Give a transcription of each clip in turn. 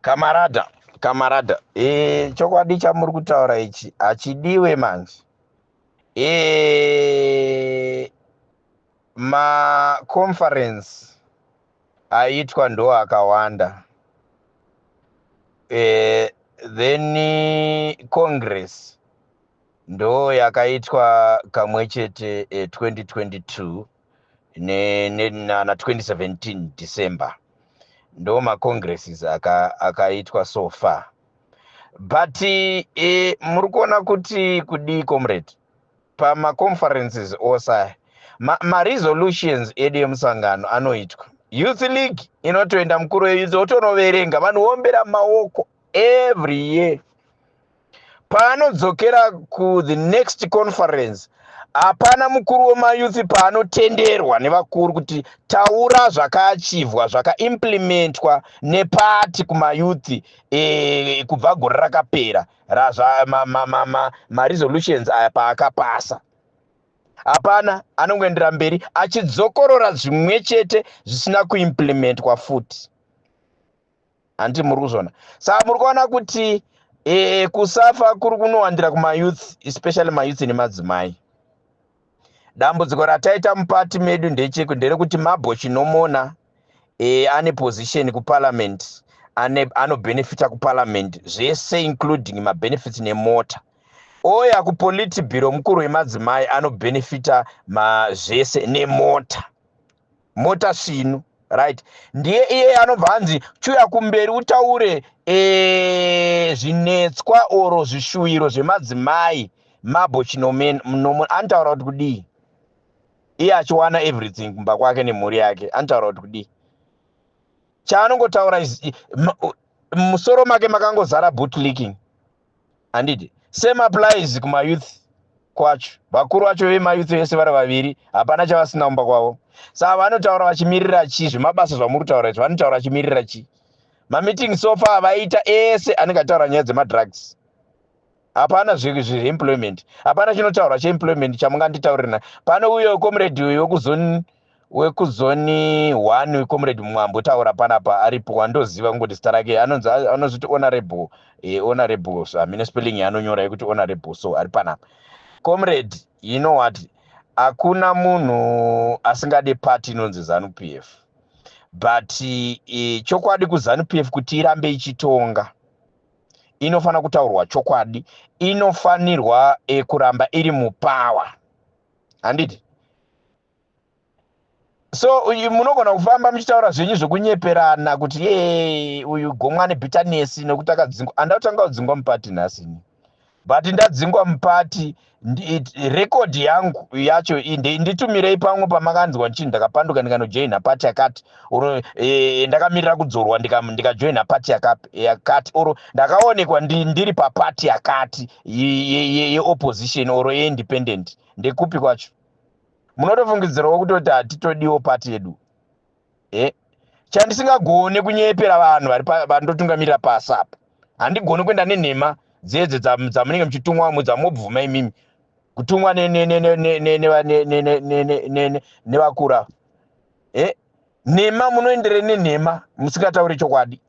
kamarada kamarada e, chokwadi chamuri kutaura ichi hachidiwe manje e, maconference aitwa ndo akawanda e, then congress ndo yakaitwa kamwe chete e, 2022 ne, ne, na, na 2017 december ndo macongresses akaitwa aka so far but e, muri kuona kuti kudii comrade pamaconferences ose maresolutions ma edu emusangano anoitwa youth league inotoenda mukuru weyouth otonoverenga vanhu voombera maoko every year paanodzokera kuthe next conference hapana mukuru wemayouth paanotenderwa nevakuru kuti taura zvakaachivhwa zvakaimplementwa nepati kumayouth e, kubva gore rakapera maresolutions ma, ma, ma, ma aya paakapasa hapana anongoendera mberi achidzokorora zvimwe chete zvisina kuimplementwa futi handi muri kuzvona saka muri kuona kuti e, kusafa kuri kunowandira kumayouth especially mayouth nemadzimai dambudziko rataita mupati medu ndecheku nderekuti mabho chinomona e, ane position kuparliament anobenefita kuparliament zvese including mabenefits nemota oya kupolitibiro mukuru wemadzimai anobenefita zvese nemota mota sinu right ndiye iye anobva hanzi chiuya kumberi utaure eh, zvinetswa oro zvishuwiro zvemadzimai mabo chinomen mnomo anotaura kuti kudii iye achiwana everything kumba kwake nemhuri yake anotaura kuti kudii chaanongotaura musoro make makangozara bootlicking handiti same applies kumayouth kwacho vakuru vacho vemayouth vese vari vaviri hapana chavasina kumba kwavo saa vanotaura vachimirira chii zvemabasa zvamuri kutaura izvo vanotaura vachimirira chii mameeting sofa avaita ese anenge ataura nyaya dzemadrugs hapana zveemployment hapana chinotaurwa cheemployment chamunganditaurira pano uyo comrade uyo wekuzoni wekuzoni one wecomrade mwambo taura panapa aripo wandoziva kungoti zita rake anonzi anozviti honorable e, honorable so hamine spelling yaanonyora yekuti honorable so ari panapa comrade you know what hakuna munhu asingade party inonzi zanu p f but e, chokwadi kuzanu p f kuti irambe ichitonga inofanira kutaurwa chokwadi inofanirwa e, kuramba iri mupower handiti so munogona kufamba muchitaura zvenyu zvekunyeperana kuti ye uyu gomwa nebitanesi nokuti akadzingwa anda kutanga kudzingwa mupati nhasi ini but ndadzingwa mupati rekodhi yangu yacho nditumirei pamwe pamakanzwa ndichii ndakapanduka ndikanojoina pati yakati or e, ndakamirira kudzorwa ndikajoina pati yakati or ndakaonekwa ndiri papati yakati yeopposition or yeindependent ndekupi kwacho munotofungidzirawo kutoti hatitodiwo pati yedu e eh? chandisingagone kunyepera vanhu vandotungamirira pasi apa handigoni kuenda nenhema dzedzo dzamunenge muchitumwa mu dzamobvuma imimi kutumwa nevakura e eh? nhema munoendere nenhema musingatauri chokwadi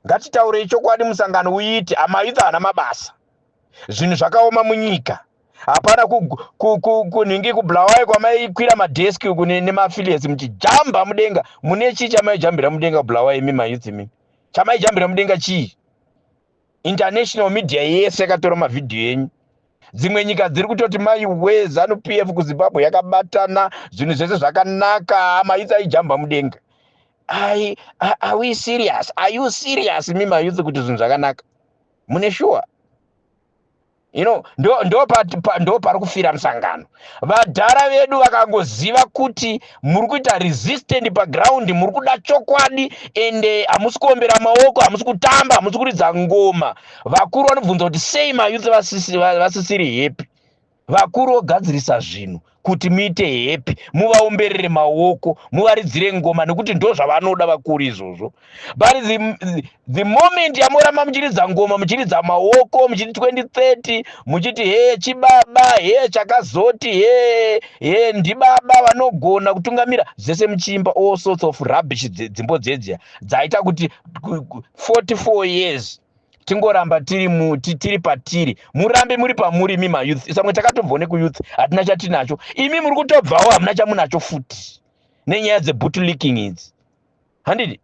ngatitaurei chokwadi musangano uite amayuth haana mabasa zvinhu zvakaoma munyika hapana kunhingi kubulawayo kwamaikwira madheski uku nemaafiliates muchijamba mudenga mune chii chamaijambira mudenga kubulawayo imi mayouth imi chamaijambira mudenga chii international media yese yakatora mavhidhiyo enyu dzimwe nyika dziri kutoti maiwe zanu p f kuzimbabwe yakabatana zvinhu zvese zvakanaka mayouth aijamba mudenga ai are we serious are you serious mi mayouth kuti zvinhu zvakanaka mune shuwa you know ndo pari kufira musangano vadhara vedu vakangoziva kuti muri kuita resistant paground muri kuda chokwadi ende hamusi kuombera maoko hamusi kutamba hamusi kuridza ngoma vakuru vanobvunza kuti sei mayouth vasisiri happy vakuru vogadzirisa zvinhu kuti muite hepi muvaomberere maoko muvaridzire ngoma nekuti ndo zvavanoda vakuru izvozvo but the, the moment yamoramba muchiridza ngoma muchiridza maoko muchiti 2030 muchiti he chibaba he chakazoti he he ndibaba vanogona kutungamira zvese muchiimba all sorts of rubbish dzimbo dzedzia dzaita kuti 44 years tingoramba tiri muti tiri patiri murambe muri pamuri imi mayouth samwe takatobvawo nekuyouth hatina chatinacho imi muri kutobvawo hamuna chamunacho futi nenyaya dzebut leaking idzi handidi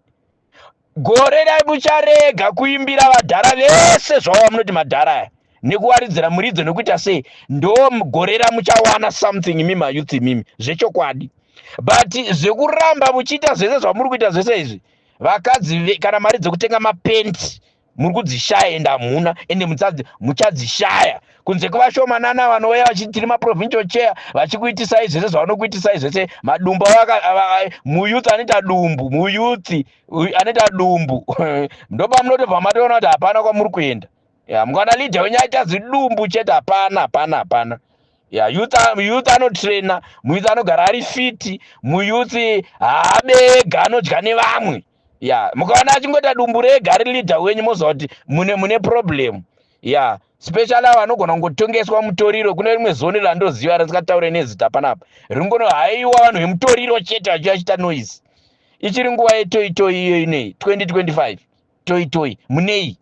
gore rai mucharega kuimbira vadhara vese zvawava munoti madhara aya nekuwaridzira muridzo nekuita sei ndo gore ramuchawana something imi mayouth imimi zvechokwadi but zvekuramba muchiita zvese zvamuri kuita zvese izvi vakadzi kana mari dzekutenga mapenti muri kudzishaya ende hamuna ende muchadzishaya kunze kwevashomanana vanouya vachiti tiri maprovincial chair vachikuitisai zvese zvavanokuitisai zvese madumbu muyuth anoita dumbu muyuth anoita dumbu ndopamunotobva matoona kuti hapana kwamuri kuenda mukana leader wenyu aita zidumbu chete hapana hapana hapana ya youth youth anotraina muyouth anogara ari fiti muyouth haabega anodya nevamwe ya mukaona achingoita dumbu rega ari leader wenyu moziva kuti mune mune problem ya special avo anogona kungotongeswa mutoriro kune rimwe zoni randoziva risingataure nezita panapa ringono haiwa vanhu vemutoriro chete vachiva chita noise ichiri nguva yetoitoi iyo inei 2025 toitoi munei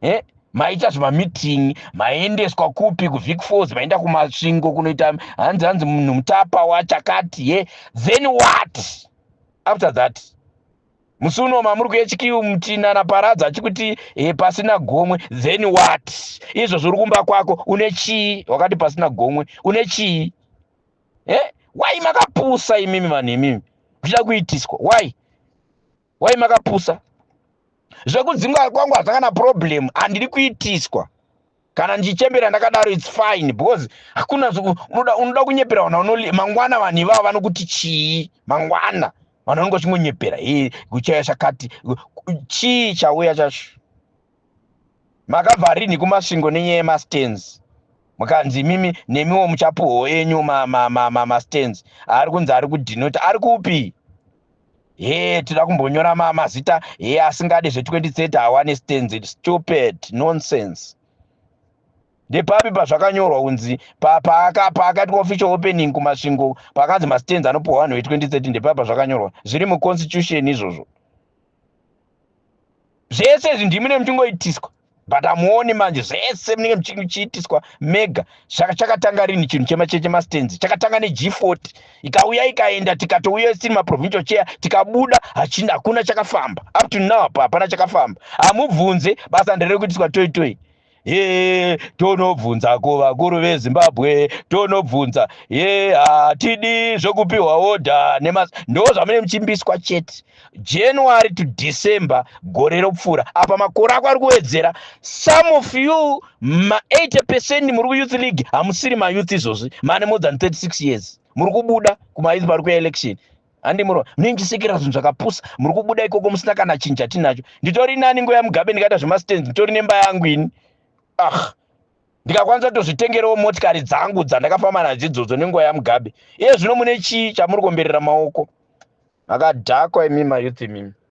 eh? maita zvimameeting maendeswa kupi kuvic falls maenda kumasvingo kunoita hanzi hanzi munhu mutapa wachakati ye then what after that musi uno mamuri kuechikiu mutina naparadza achikuti e, pasina gomwe then what izvo zviri kumba kwako une chii wakati pasina gomwe une chii e eh? why makapusa imimi vanhu imimi kuchida kuitiswa why why makapusa zvekudzingwa kwangu haza kana problem handiri kuitiswa kana ndichichembera ndakadaro its fine because hakuna unoda, unoda kunyepera vana unoli mangwana vanhu ivavo vanokuti chii mangwana vanhu vanonge vachingonyepera e kuchaya chakati chii chauya chacho makabva rinhi kumasvingo nenyaya yemastands mukanzi imimi nemiwo muchapuhwo enyu mastands ari kunzi ari kudhinota ari kupi hee tida kumbonyora mazita hee asingade zve2030 hawane stands stupid nonsense ndepapi pazvakanyorwa kunzi paakaitwa official opening kumasvingo pakanzi mastands anopuhwa vanhu ve2030 ndepapi pazvakanyorwa zviri muconstitution izvozvo zvese izvi ndimi ne muchingoitiswa but hamuoni manje zvese munenge muchiitiswa mega saka chakatanga rini chinhu chemacheche mastenzi chakatanga neg40 ikauya ikaenda tikatouya isiri maprovincial chair tikabuda hachina hakuna chakafamba up to now hapana chakafamba hamubvunze basa nderekuitiswa toitoi ye tonobvunza kuvakuru vezimbabwe tonobvunza ye hatidi zvokupiwa odha nemas ndo zvamune muchimbiswa chete january to december gore ropfuura apa makore ako ari kuwedzera some of you ma 80 percent muri kuyouth league hamusiri mayouth izvozvi mane more than 36 years muri kubuda kumayouth pari kuya election hande muno munoindisekera zvinhu zvakapusa muri kubuda ikoko musina kana chinhu chatinacho nditori nani ngo yamugabe ndikaita zvemastands nditori nemba yangu ini ah ndikakwanisa kutozvitengerawo motikari dzangu dzandakafamba nadzo idzodzo nenguva yamugabe iye zvino mune chii chamuri komberera maoko makadhakwa imima youth imimi